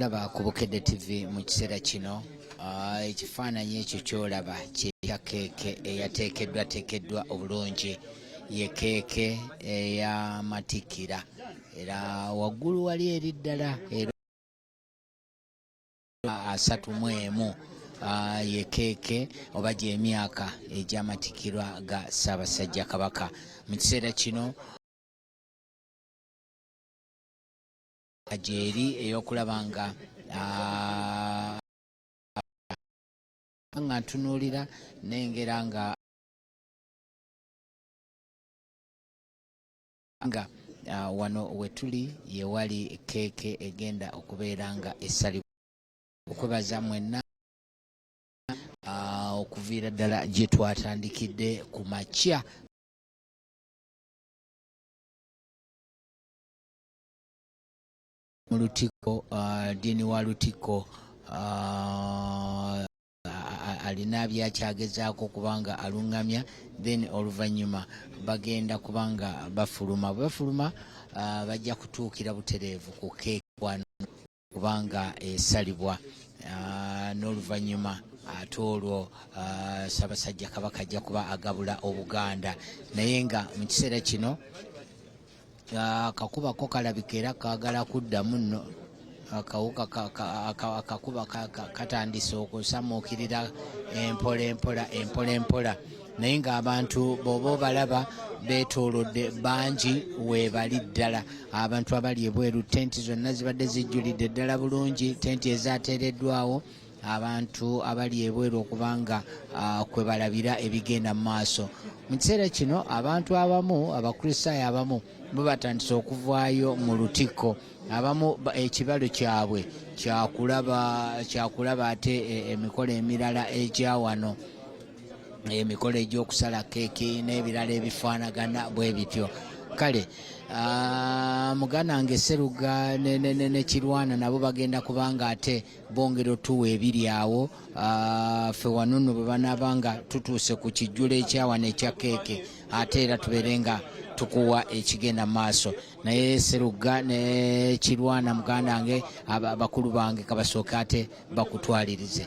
ndaba ku bukedde tv mu kiseera kino ah, ekifaananyi ekyo kyolaba kyekya keeke eyateekeddwa teekeddwa obulungi ye keeke eyamatikkira era waggulu wali eri ddala era asatu mu emu ah, ye keeke oba gy'emyaka egyamatikkirwa ga ssaabasajja kabaka mu kiseera kino gyeri ey'okulaba nga nga ntunuulira nengera nga nga uh, wano wetuli yewali keeke egenda okubeera nga esalibwa okwebaza mwenna uh, okuviira ddala gye twatandikidde ku makya mu lutikko uh, diini wa lutikko uh, alina byakyagezaako kubanga aluŋŋamya then oluvannyuma bagenda kubanga bafuluma bwe bafuluma uh, bajja kutuukira butereevu ku keeki kubanga esalibwa ah, n'oluvannyuma ate olwo ah, Ssaabasajja Kabaka ajja kuba agabula Obuganda naye nga mu kiseera kino ah, akakuba ko kalabika era kaagala kuddamu nno akawuka akakuba katandise okusamuukirira empola empola empola empola naye ng'abantu bw'oba obalaba beetoolodde bangi weebali ddala abantu abali ebweru tenti zonna zibadde zijjulidde ddala bulungi tenti ezaateereddwawo abantu abali ebweru okuba nga ah, kwe balabira ebigenda mu maaso mu kiseera kino abantu abamu abakristaayo abamu bo batandise okuvaayo mu lutikko abamu ekibalo kyabwe kyakulaba ate e, emikolo emirala egya wano emikolo egy'okusala keeki n'ebirala ebifaanagana bwe bityo kale ah, muganda nge seruga nekirwana nabo bagenda kubanga ate bongera otuwa ebiri awo ah, fe wanuno bwe banaaba nga tutuuse ku kijjulo ekyawana ekya keeke ate era tubeere nga tukuwa ekigenda maaso naye seruga nekirwana muganda nge abakulu bange kabasooke ate bakutwalirize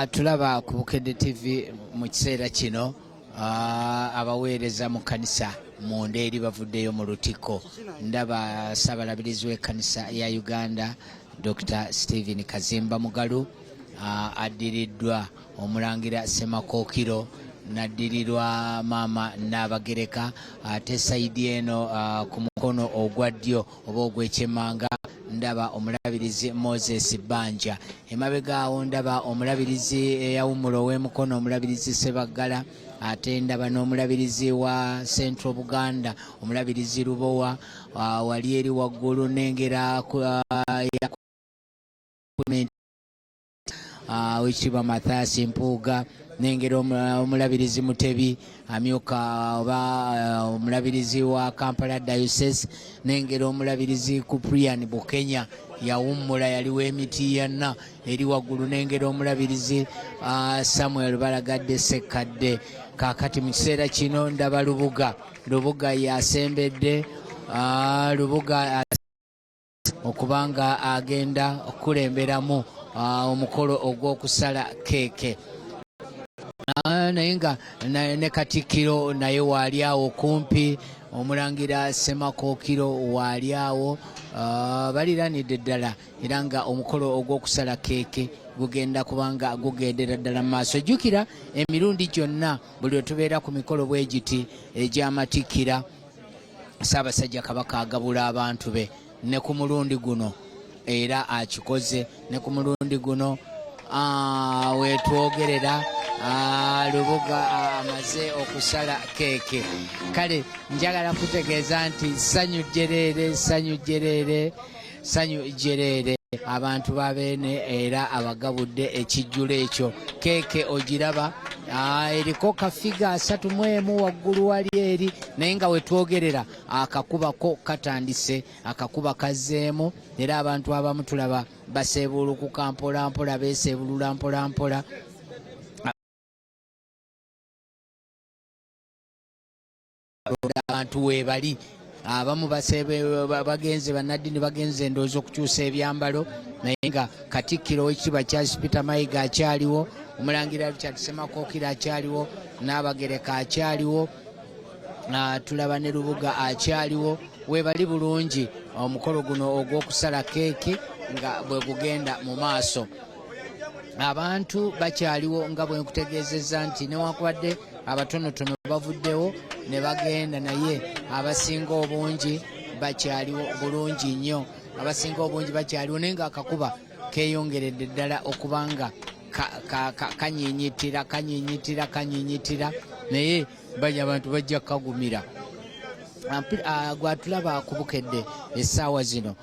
atulaba ah, ah, ku bukedde tv mu kiseera kino abaweereza mu kanisa munda eri bavuddeyo mu lutikko ndaba ssabalabirizi w'ekkanisa ya uganda dr stephen kazimba mugalu addiriddwa omulangira semakookiro naddirirwa maama naabagereka ate sayidi eno ku mukono ogwa ddyo oba ogwekyemanga ndaba omulabirizi moses banja emabega awo ndaba omulabirizi eyawumula ow'emukono omulabirizi sebaggala ate ndaba n'omulabirizi wa central buganda omulabirizi lubowa ah, wali eri waggulu nengera ah, ah, wekitiibwa mathasi mpuuga nengera omulabirizi mutebi amyuka oba ah, omulabirizi wa kampala diocese nengera omulabirizi kuprian bukenya yawummula yali w'emitiyanna eri waggulu nengera omulabirizi ah, samuel balagadde sekkadde kakati mu kiseera kino ndaba lubuga lubuga yasembedde ah, lubuga okuba nga agenda okukulemberamu ah, omukolo ogw'okusala keeke ah, naye nga ne katikkiro naye waali awo kumpi omulangira semakookiro waali awo ah, baliranidde ddala era nga omukolo ogw'okusala keeke gugenda kubanga gugendera ddala mu maaso jjukira emirundi gyonna buli wetubeera ku mikolo bwegiti egy'amatikkira ssaabasajja kabaka agabula abantu be ne ku mulundi guno era akikoze ne ku mulundi guno ah, wetwogerera ah, lubuga ah, amaze okusala keeke kale njagala kutegeeza nti ssanyu jjereere ssanyu jjereere sanyu jereere abantu babeene era abagabudde ekijjulo ekyo keeke ogiraba Ah, eriko kafiga asatu mu emu waggulu wali eri naye nga wetwogerera akakubako katandise akakuba kazzeemu era abantu abamu tulaba baseebuulukuka mpolampola beeseebulula mpolampola abantu webali abamu bagenze banaddini bagenze endowooza okukyusa ebyambalo naye nga katikkiro wekiba charles peter mayiga akyaliwo omulangira richard semakokira akyaliwo n'abagereka akyaliwo ah, tulaba ne lubuga akyaliwo webali bulungi omukolo guno ogw'okusala keeki nga bwe gugenda mu maaso abantu bakyaliwo nga bwe nkutegeezezza nti newankubadde abatonotono bavuddewo ne bagenda naye abasinga obungi bakyaliwo bulungi nnyo abasinga obungi bakyaliwo naye ngaakakuba keyongeredde ddala okuba nga kanyinyitira kanyinyitira kanyinyitira naye bali abantu bajja kukagumira Ah, gwatulaba ku bukedde essaawa zino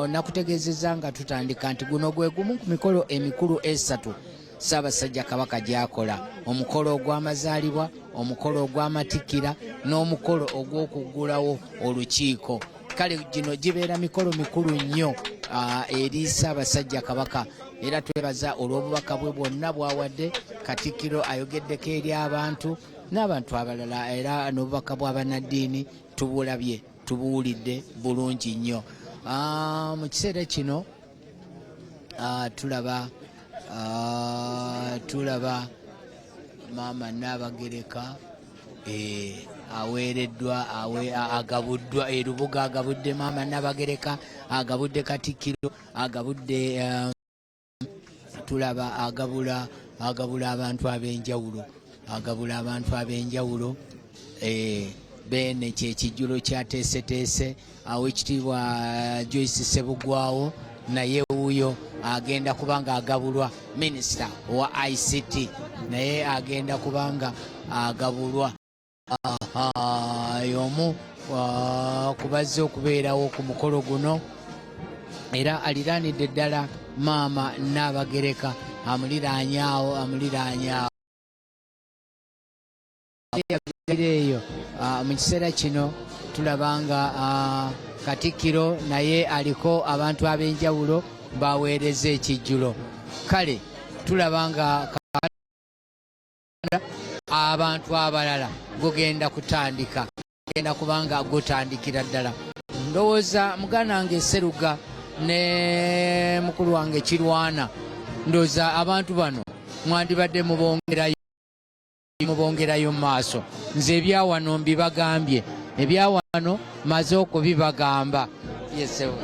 nakutegeezezza nga tutandika nti guno gwe gumu ku mikolo emikulu esatu Ssaabasajja Kabaka gy'akola omukolo ogw'amazaalibwa omukolo ogw'amatikkira n'omukolo ogw'okuggulawo olukiiko kale gino gibeera mikolo mikulu nnyo ah, eri Ssaabasajja Kabaka era twebaza olw'obubaka bwe bwonna bwawadde Katikkiro ayogeddeko eri abantu n'abantu abalala era n'obubaka bw'abannaddiini tubulabye tubuwulidde bulungi nnyo ah, mu kiseera kino Ah, tulaba ah, tulaba maama naabagereka eh, aweereddwa agabuddwa erubuga eh, agabudde maama naabagereka agabudde katikkiro agabudde eh, tulaba agabula agabula abantu ab'enjawulo agabula abantu ab'enjawulo eh, beene kyekijjulo kyateeseteese awo ekitiibwa joyce sebugwawo naye wuuyo agenda kubanga agabulwa minisita owa ict naye agenda kubanga agabulwa y'omu ah, ku bazze okubeerawo ku mukolo guno era aliraanidde ddala maama naabagereka amuliraanyaawo amuliraanyaawo yagira eyo ah, mu kiseera kino tulaba nga ah, katikkiro naye aliko abantu ab'enjawulo baweereza ekijjulo kale tulaba nga abantu abalala gugenda kutandika genda kubanga gutandikira ddala ndowooza muganda wange seruga ne mukulu wange kirwana ndowooza abantu bano mwandibadde mubongerayo mubongerayo mu maaso nze ebyawano mbibagambye ebyawano maze okubibagamba yesewe